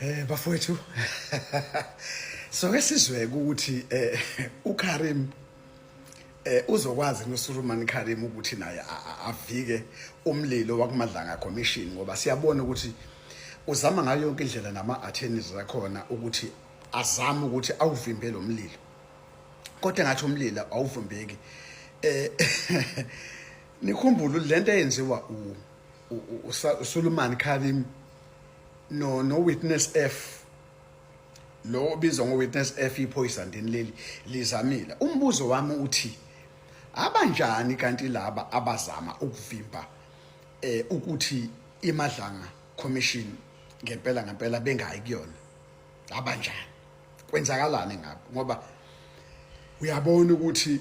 Eh bafowethu so ke sizwe ukuthi eh uKarim eh uzokwazi noSuruman Karim ukuthi naye avike umlilo wakumadlanga commission ngoba siyabona ukuthi uzama ngayo yonke indlela nama attorneys zakhona ukuthi azama ukuthi awuvimbe lo mlilo kodwa ngathi umlilo awuvimbeki eh nikhumbule ukuthi lento eyenziwa uSulumani Karim no no witness F lo obizwa ngo witness F iphoyisa ndini leli lizamile umbuzo wami uthi abanjani kanti laba abazama ukuvimba eh ukuthi imadlanga commission ngempela ngempela bengayi kuyona abanjani kwenzakalani ngabo ngoba uyabona ukuthi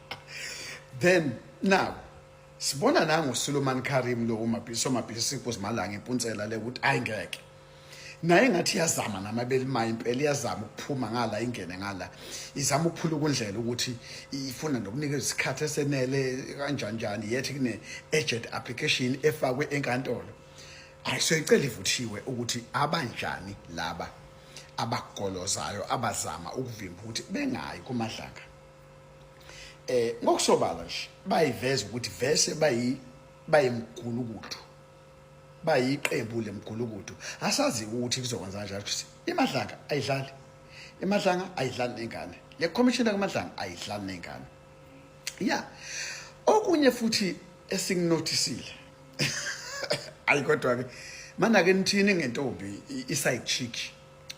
then now sibona nango Suleman Karim lo umabhiso mabhiso kuzimalanga impuntsela le ukuthi ayingeke naye ngathi iyazama namabeli maye impela iyazama ukuphuma ngala ingene ngala izama ukuphula ukundlela ukuthi ifuna nokunika isikhathi esenele kanjani njani yethi kune agent application efakwe enkantolo ayisoyicela ivuthiwe ukuthi abanjani laba abagolozayo abazama ukuvimba ukuthi bengayi kumadlanga eh ngokusobala nje bayiveza ukuthi vese bayi bayimgulukudu bayiqembu lemgulukudu asazi ukuthi kuzokwenza kanjalo ukuthi imadlanga ayidlali imadlanga ayidlali nengane le commissioner kamadlanga ayidlali nengane ya okunye futhi esinginotisile ayi kodwa ke mana ke nithini ngentombi i side chick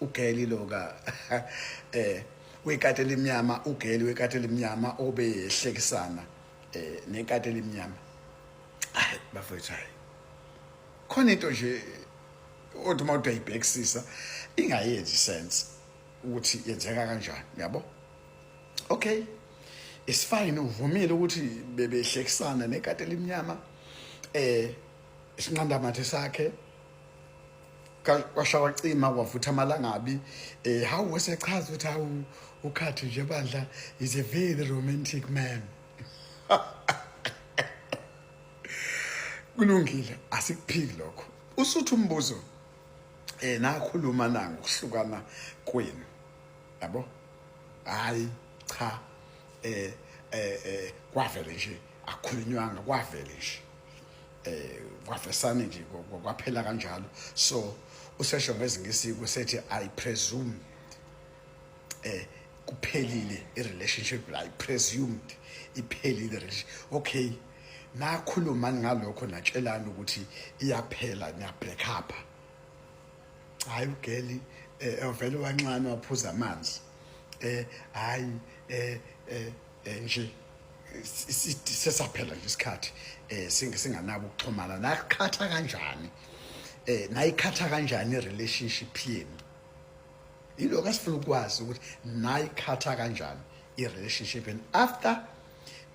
ugeli loka eh wekati elimnyama ugeli wekati elimnyama obehlekisana eh nekati elimnyama hayi bafethu hayi khona into nje othi uma udayibhekisisa ingayenzi sense ukuthi yenzeka kanjani yabo okay it's fine uvumile ukuthi bebehlekisana nekati elimnyama eh isinqandamathe sakhe kwashawa cima kwavutha amalangabi eh how wesechaza ukuthi hawu ukhathi nje bandla is a very romantic man kulungile asikuphiki lokho usuthu umbuzo eh nakhuluma na ngokuhlukana kwenu yabo hayi cha eh eh, eh kwavele nje akhulunywanga kwavele nje eh kwafesane nje kwaphela kanjalo so usesho ngezingisi kusethi i presume eh kuphelile i relationship i presumed iphelile okay nakhulumani ngalokho natshelani ukuthi iyaphela niya break up hayi ugeli eh ovele wanxana waphuza amanzi eh hayi eh eh eh, nje sesaphela nje isikhathi eh singanabo ukuxhumana nakukhatha kanjani eh nayikhatha kanjani relationship yenu ilokho esifuna ukwazi ukuthi nayikhatha kanjani i relationship and after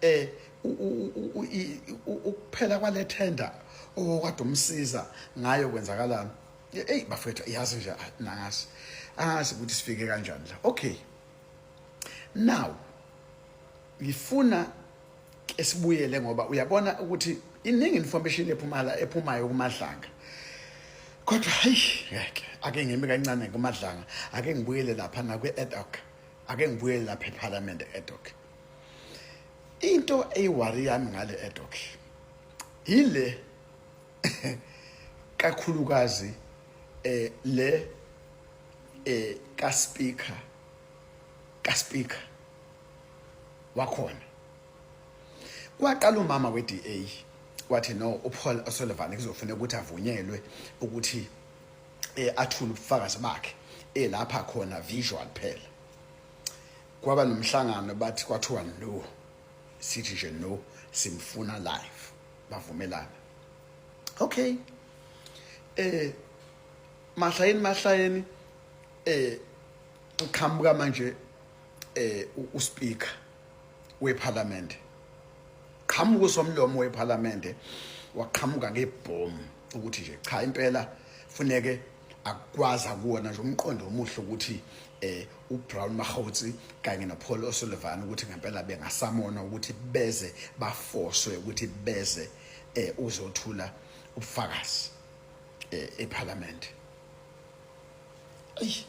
eh ukuphela kwale tender okade umsiza ngayo kwenzakalani hey bafethu yazi nje nangazi angazi ukuthi sifike kanjani la okay now ngifuna ke sibuyele ngoba uyabona ukuthi iningi information ephumala ephumayo kumadlanga kodwa hayi ngeke ake ngimi kancane kumadlanga ake ngibuyele lapha na kwi ad hoc ake ngibuyele lapha eParliament ad hoc into eyiwari yami ngale ad hoc yile kakhulukazi eh le eh ka speaker ka speaker wakhona kwaqala umama weDA wathi no uPaul O'Sullivan kuzofuneka ukuthi avunyelwe ukuthi eh athule ubufakazi bakhe elapha eh, khona visual phela kwaba nomhlangano bathi kwathiwa no sithi nje no simfuna live bavumelana okay eh mahlayeni mahlayeni eh uqhamuka manje eh uspeaker weParliament qhamuka usomlomo weParliament waqhamuka ngebhomu ukuthi nje cha impela funeke akwazi akuwona nje umqondo omuhle ukuthi eh uBrown Mahotsi kanye noPaul O'Sullivan ukuthi ngempela bengasamona ukuthi beze bafoswe ukuthi beze eh uzothula ubufakazi eh eParliament ayi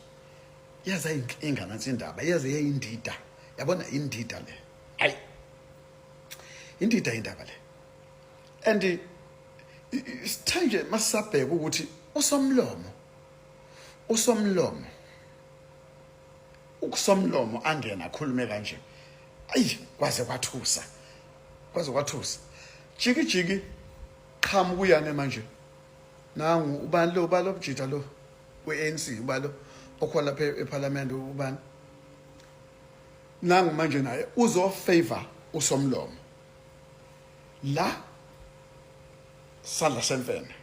yaza inkinga nansi indaba yaze yayindida yabona indida le ayi indida indaba le and sithanje masabheka ukuthi usomlomo usomlomo ukusomlomo angena akhulume kanje ayi kwaze kwathusa kwaze kwathusa jiki jiki qhamu kuyane manje nangu ubani lo ubalo bujita lo we-ANC ubalo okhona lapha eParliament ubani nangu manje naye uzo favor usomlomo la sandla semfene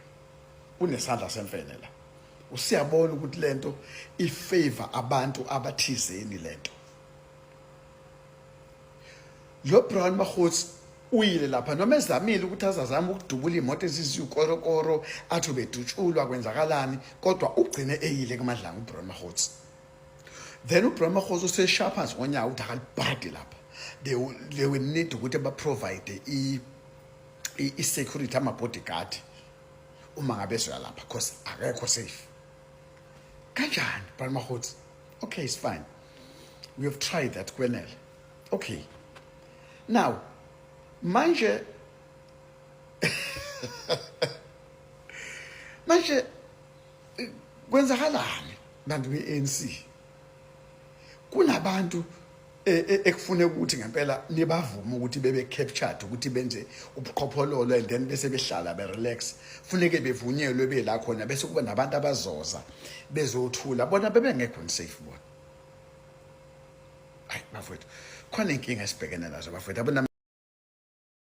unesandla semfene la usiyabona ukuthi lento ifavor abantu abathizeni lento lo Brown Mahots uyile lapha noma ezamile ukuthi azazama ukudubula imoto eziziwukorokoro athi ubedutshulwa kwenzakalani kodwa ugcine eyile kumadlanga uBrown Mahots then uBrown Mahots usesharpers ngonyaka ukuthi akalibhadi lapha they will, they will need ukuthi baprovide i i security ama bodyguard uma ngabe ezoya lapha cause akekho safe kanjani bhali mahothi okay it's fine we have tried that kwenele okay now manje manje kwenzakalani bantu be-anc kunabantu e, e, ekufuneka ukuthi ngempela nibavume ukuthi bebe captured ukuthi benze ubuqhophololo and then bese behlala be relax funeke bevunyelwe bela khona bese kuba nabantu abazoza bezothula bona bebe ngekho unsafe bona ay bafowethu khona inkinga esibhekene nazo bafowethu abona